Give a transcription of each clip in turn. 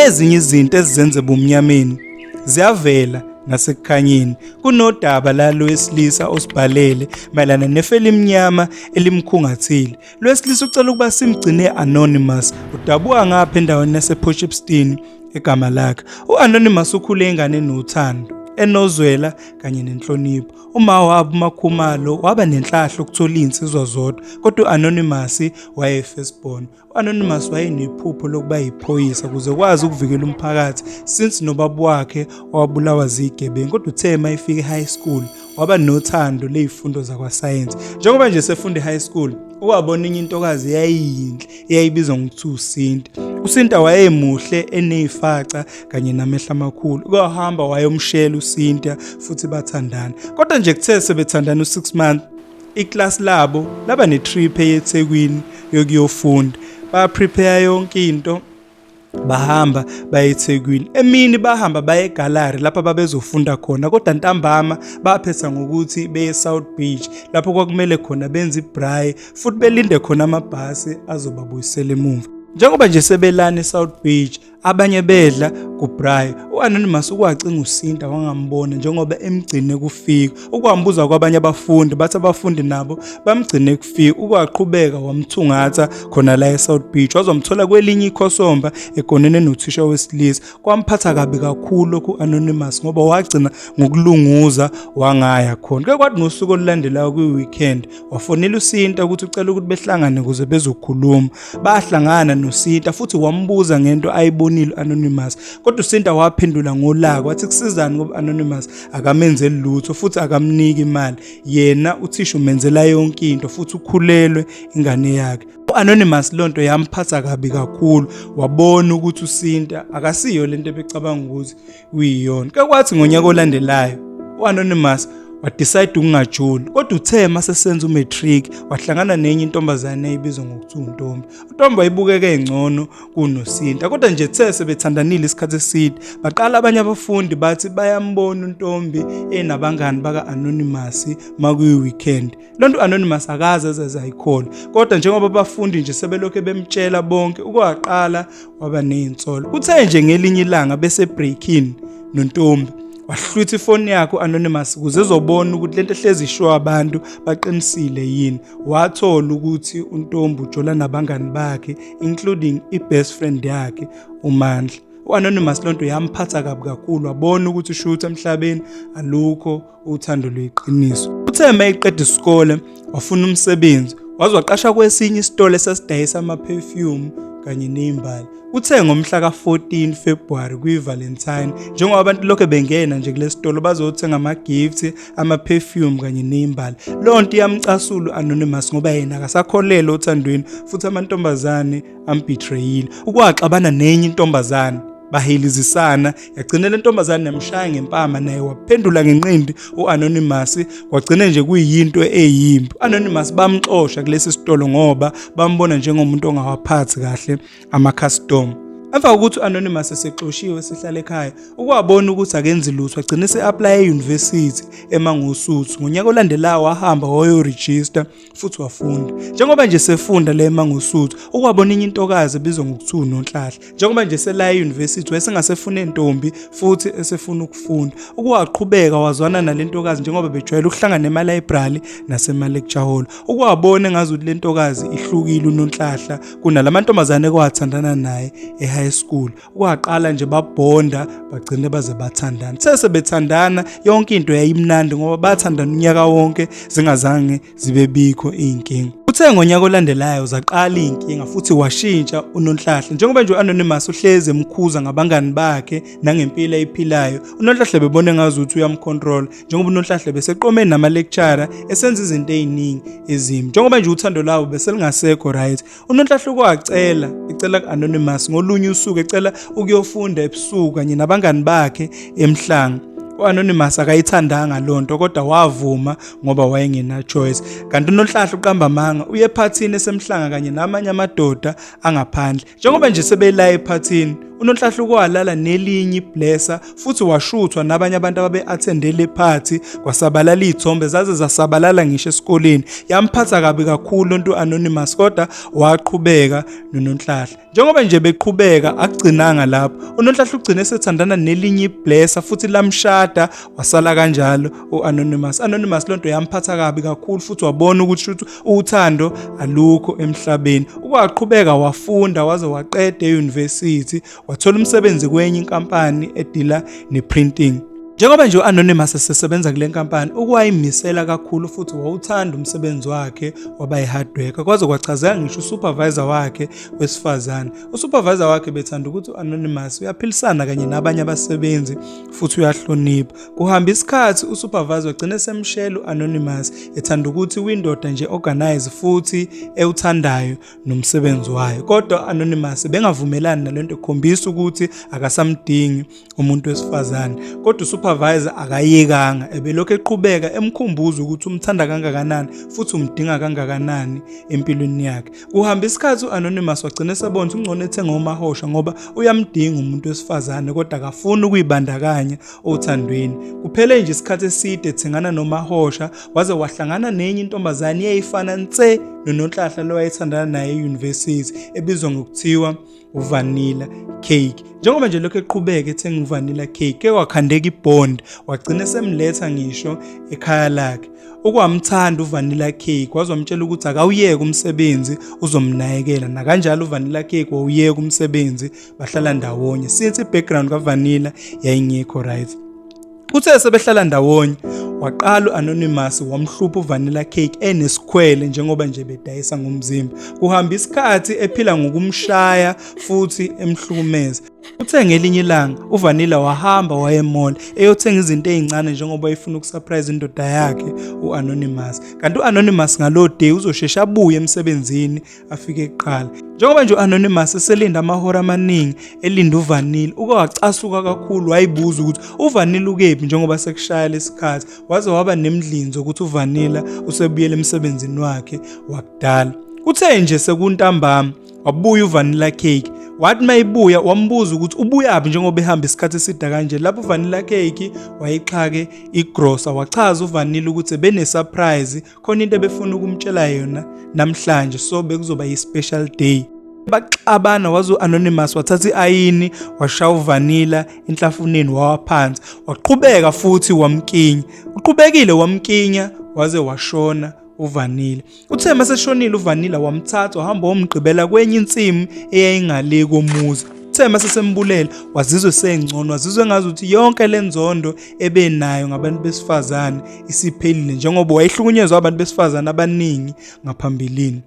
Ezinye izinto ezizenze bumnyameni ziyavela nasekukhanyeni kunodaba lalo wesilisa osibhalele mayelana nefeli imnyama elimkhungathile lwesilisa ucela ukuba simgcine anonymous udabuka ngapha endaweni yasePortshepstone egama lakhe uanonymous ukhule ingane nothando enozwela kanye nenhlonipho uma wabo umakhumalo waba nenhlahla ukuthola izinsizwa zodwa kodwa uanonymous wayefirstborn U-Anonymous wayenephupho lokuba yiphoyisa ukuze kwazi ukuvikela umphakathi since nobaba wakhe owabulawa zigebengu kodwa uthe uma efika e-high school waba nothando ley'fundo zakwasayensi njengoba nje sefunda e-high school uwabona enye intokazi yayiyinhle eyayibizwa ngokuthi usinta usinta wayemuhle eney'faca kanye namehla amakhulu kwahamba wayomshela usinta futhi bathandana kodwa nje kuthe sebethandana u-six month Iklasi labo laba netrip eyeThekwini yokuyofunda. Ba prepare yonke into bahamba baye eThekwini emini bahamba baye egallery lapha babezofunda khona kodwa ntambama baphetha ngokuthi beye South Beach lapho kwakumele khona benze ibraai futhi belinde khona amabhasi azobabuyisela emuva njengoba nje sebelana eSouth Beach abanye bedla kuBray u-Anonymous ukwacinga usinta wangambona njengoba emgcine kufika ukwambuza kwabanye abafundi bathi abafundi nabo bamgcine kufika ukwaqhubeka wamthungatha khona la eSouth Beach wazomthola kwelinye ikhosomba egonene nothisha wesilisa kwamphatha kabi kakhulu lokhu Anonymous ngoba wagcina ngokulunguza wangaya khona ke kwathi ngosuku olulandelayo kwi-weekend wafonela usinta ukuthi ucela ukuthi behlangane ukuze bezokhuluma Bahlangana noSinta futhi wambuza ngento ayibonile Anonymous. Kodwa uSinta waphendula ngolaka wathi kusizani ngoba Anonymous akamenzeli lutho futhi akamniki imali. Yena uthisha umenzela yonke into futhi ukhulelwe ingane yakhe. U-Anonymous lonto yamphatha kabi kakhulu wabona ukuthi uSinta akasiyo lento ebecabanga ukuthi uyiyona kakwathi ngonyaka olandelayo u-anonymous wadecide ukungajoli kodwa uthe uma sesenza umatric wahlangana nenye intombazane eyibizwa ngokuthi untombi untombi wayibukeka engcono kunosinta kodwa nje the sebethandanile isikhathi eside baqala abanye abafundi bathi bayambona untombi enabangani baka-anonymous makuyi-weekend Lonto anonymous akaze ezeze ayikhole kodwa njengoba abafundi nje sebelokhe bemtshela bonke ukwaqala waba nezinsolo kuthe nje ngelinye ilanga bese breaking nontombi wahlwitha ifoni yakho anonymous kuze ezobona ukuthi lento ehlezi isho abantu baqinisile yini wathola ukuthi untombi ujola nabangani bakhe including i-best friend yakhe umandla u-anonymous lonto yamphatha kabi kakhulu wabona ukuthi ushuthi emhlabeni alukho uthando luyiqiniso. Uthe uma eqeda isikole wafuna umsebenzi waze waqasha kwesinye isitolo esasidayisa ama-perfume kanye ney'mbali uthe ngomhla ka-14 februwari kwi-valentine njengoba abantu lokho bengena nje kule sitolo bazothenga ama-gift ama-perfume kanye ney'mbali leyo nto iyamcasula u-anonymous ngoba yena akasakholelwa othandweni futhi amantombazane ambitrayile ukwaxabana nenye intombazane bahelizisana yagcina le ntombazane yamshaya ngempama naye waphendula ngenqindi u-anonymous kwagcina nje kuyinto eyimbi u-anonymous bamxosha kulesi sitolo ngoba bambona njengomuntu ongawaphathi kahle amakhastoma emva kokuthi u-anonymous esexoshiwe sihlale ekhaya ukwabona ukuthi akenzi lutho agcine se-aplaya eyunivesithi emangosuthu ngonyaka olandelayo wahamba wayorejista futhi wafunda njengoba nje sefunda le mangosuthu ukwabona inye intokazi ebizwa ngokuthiwa unonhlahla njengoba nje selaya euniversity wayesengasefuna entombi futhi esefuna ukufunda ukuwaqhubeka wazwana nalentokazi njengoba bejwayele ukuhlangana ema library nasema lecture hall ukuwabona engazi ukuthi lentokazi ihlukile unonhlahla kunalamantombazane kwathandana naye e high school kwaqala nje babhonda bagcine baze bathandana sese bethandana yonke into yayimnandi ngoba bathandana unyaka wonke zingazange zibe bikho izinkinga Uthe ngonyaka olandelayo zaqala inkinga futhi washintsha uNonhlahle njengoba nje uAnonymous uhleze emkhuza ngabangani bakhe nangempilo ayiphilayo uNonhlahle bebone ngazi ukuthi uyamcontrol njengoba uNonhlahle beseqome nama lecturer esenza izinto eziningi ezimbi njengoba nje uthando lawo beselingasekho right unonhlahluko acela ecela ku-anonymous ngolunye usuku ecela ukuyofunda ebusuku kanye nabangani bakhe emhlanga u-anonymous akayithandanga loo nto kodwa wavuma ngoba wayengenachoice kanti unonhlahla uqamba amanga uye ephathini esemhlanga kanye namanye amadoda angaphandle njengoba nje sebelaye ephathini unonhlahla ukwalala nelinye iblesa futhi washuthwa nabanye abantu ababe-athende le phathi kwasabalala iy'thombe zaze zasabalala ngisho esikoleni yamphatha kabi kakhulu lontu anonymous kodwa waqhubeka nononhlahla njengoba nje beqhubeka akugcinanga lapho unonhlahla ugcine sethandana nelinye iblesa futhi lamshada wasala kanjalo u-anonymous anonymous lonto yamphatha kabi kakhulu futhi wabona ukuthi shuthi uthando alukho emhlabeni ukwaqhubeka wafunda waze waqeda e-university wathola umsebenzi kwenye inkampani edila neprinting Njengoba nje u-Anonymous esesebenza kule nkampani, ukuwayimisela kakhulu futhi wawuthanda umsebenzi wakhe waba yi-hardworker kwaze kwachazeka ngisho usupervisor wakhe wesifazane. Usupervisor wakhe bethanda ukuthi u-Anonymous uyaphilisana kanye nabanye abasebenzi futhi uyahlonipha. Kuhamba isikhathi usupervisor wagcina esemshela u-Anonymous ethanda ukuthi windoda nje organize futhi ewuthandayo. nomsebenzi wayo kodwa anonymous bengavumelani nalento ekhombisa ukuthi akasamdingi umuntu wesifazane kodwa usupervisor akayekanga ebelokhu eqhubeka emkhumbuza ukuthi umthanda kangakanani futhi umdinga kangakanani empilweni yakhe kuhamba isikhathi uanonymous wagcina esebona ungcono ethenga umahosha ngoba uyamdinga umuntu wesifazane kodwa akafuni ukuyibandakanya othandweni kuphele nje isikhathi eside ethengana nomahosha waze wahlangana nenye intombazane eyayifana nse nononhlahla lowayethandana naye eyunivesithi ebizwa ngokuthiwa uvanilla cake njengoba nje lokho eqhubeka ethenga uvanilla cake ke wakhandeka ibond wagcina esemletha ngisho ekhaya lakhe ukwamthanda uvanilla cake waze wamtshela ukuthi akawuyeke umsebenzi uzomnakekela nakanjalo uvanilla cake wawuyeka umsebenzi bahlala ndawonye since i-background kavanilla yayingekho right Uthe sebehlala ndawonye waqala u-Anonymous wamhlupha uVanilla Cake enesikhwele njengoba nje bedayisa ngomzimba. Kuhamba isikhathi ephila ngokumshaya futhi emhlukumeza. Uthe ngelinye ilanga uVanilla wahamba waye mall eyothenga izinto ezincane njengoba efuna ukusurprise indoda yakhe uAnonymous. Kanti uAnonymous ngaloo day uzosheshe abuye emsebenzini afike kuqala njengoba nje u-anonymous eselinda amahora amaningi elinda uvanile uke wacasuka kakhulu wayibuza ukuthi uvanile ukephi njengoba sekushaya lesikhathi waze waba nemdlinzo ukuthi uvanila usebuyele emsebenzini wakhe wakudala kuthe nje sekuntambama wabuya uvanila cake wathi mayibuya wambuza ukuthi ubuyaphi njengoba ehamba isikhathi eside kanje lapho uvanila cake wayixhake igrosa wachaza uvanila ukuthi benesurprise khona into ebefuna ukumtshela yona namhlanje so bekuzoba yi-special day baxabana waze u-anonymous wathatha i-ayini washaya uvanila enhlafuneni wawaphansi waqhubeka futhi wamkinya uqhubekile wamkinya waze washona uvanila uthe maseshonile uvanila wamthatha wahamba womgqibela kwenye insimu eyayingale komuzi uthe masesembulele wazizwe sengcono wazizwe ngazi ukuthi yonke le nzondo ebenayo ngabantu besifazane isiphelile njengoba wayehlukunyezwa abantu besifazane abaningi ngaphambilini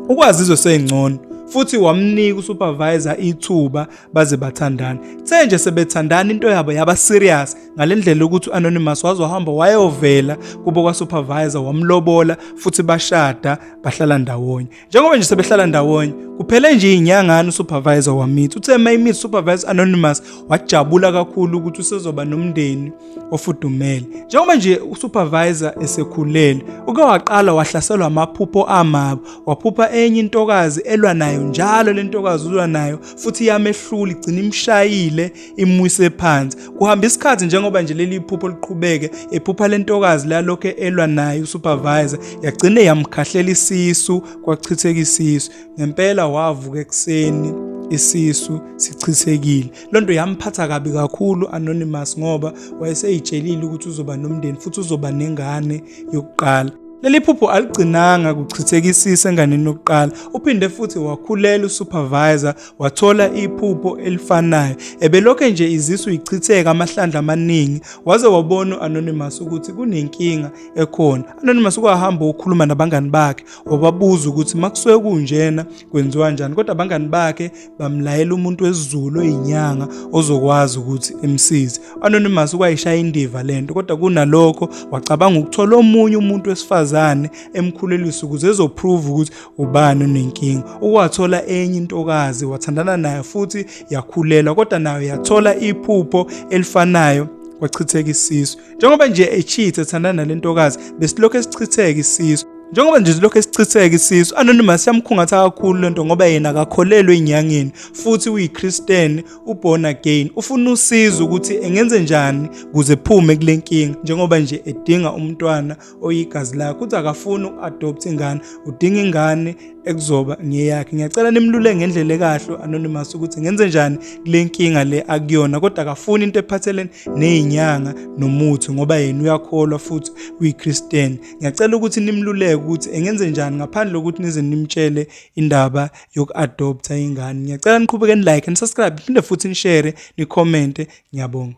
ukwazizwe seyingcono futhi wamnika usupervisor ithuba baze bathandana kuthe nje sebethandana into yabo yaba serious ngalendlela ukuthi anonymous waze wahamba wayovela kubo kwasupervisor wamlobola futhi bashada bahlala ndawonye njengoba nje sebehlala ndawonye kuphele nje inyangana usupervisor wamithi uthe uma imithi supervisor anonymous wajabula kakhulu ukuthi usezoba nomndeni ofudumele njengoba nje usupervisor esekhulele uke waqala wahlaselwa amaphupho amabo waphupha enye intokazi elwa nayo njalo le ntokazi ulwa nayo futhi iyamehlula igcina imshayile imwise phansi kuhamba isikhathi njengoba nje leli iphupho liqhubeke ephupha lentokazi lalokho elwa naye usupervisor yagcine yamkhahlela isisu kwachitheka isisu ngempela wavuka ekuseni isisu sichithekile loo nto yamphatha kabi kakhulu anonymous ngoba wayeseyitshelile ukuthi uzoba nomndeni futhi uzoba nengane yokuqala leli phupho aligcinanga kuchithekisisa enganeni yokuqala uphinde futhi wakhulela usupervisor wathola iphupho elifanayo ebelokhe nje izisu ichitheka amahlandla amaningi waze wabona u-anonymous ukuthi kunenkinga ekhona anonymous kwahamba ukukhuluma nabangani bakhe wababuza ukuthi makusuke kunjena kwenziwa njani kodwa abangani bakhe bamlayela umuntu wesizulu oyinyanga ozokwazi ukuthi emsize anonymous kwayishaya indiva lento kodwa kunalokho wacabanga ukuthola omunye umuntu wesifazane emkhulelisa ukuze ezoprove ukuthi ubani unenkinga ukwathola enye intokazi wathandana nayo futhi yakhulelwa kodwa nayo yathola iphupho elifanayo kwachitheka isisu njengoba nje echithe ethandana nalentokazi besilokhu esichitheka isisu njengoba nje silokhu esichitheka isisu anonymous yamkhungatha kakhulu lento ngoba yena akakholelwe enyangeni futhi uyiChristian uborn again ufuna usizo ukuthi engenze njani kuze phume kulenkinga njengoba nje edinga umntwana oyigazi lakho uthi akafuni uku-adopt ingane udinga ingane ekuzoba ngeyakhe ngiyacela nimlule ngendlela ekahle anonymous ukuthi ngenze njani kule nkinga le akuyona kodwa akafuni into ephathelene neyinyanga nomuthi ngoba yena uyakholwa futhi uyichristian ngiyacela ukuthi nimluleke ukuthi engenze njani ngaphandle kokuthi nize nimtshele indaba yoku-adoptha ingane ngiyacela niqhubeke nilike nisubscribe phinde futhi nishere nikhomente ngiyabonga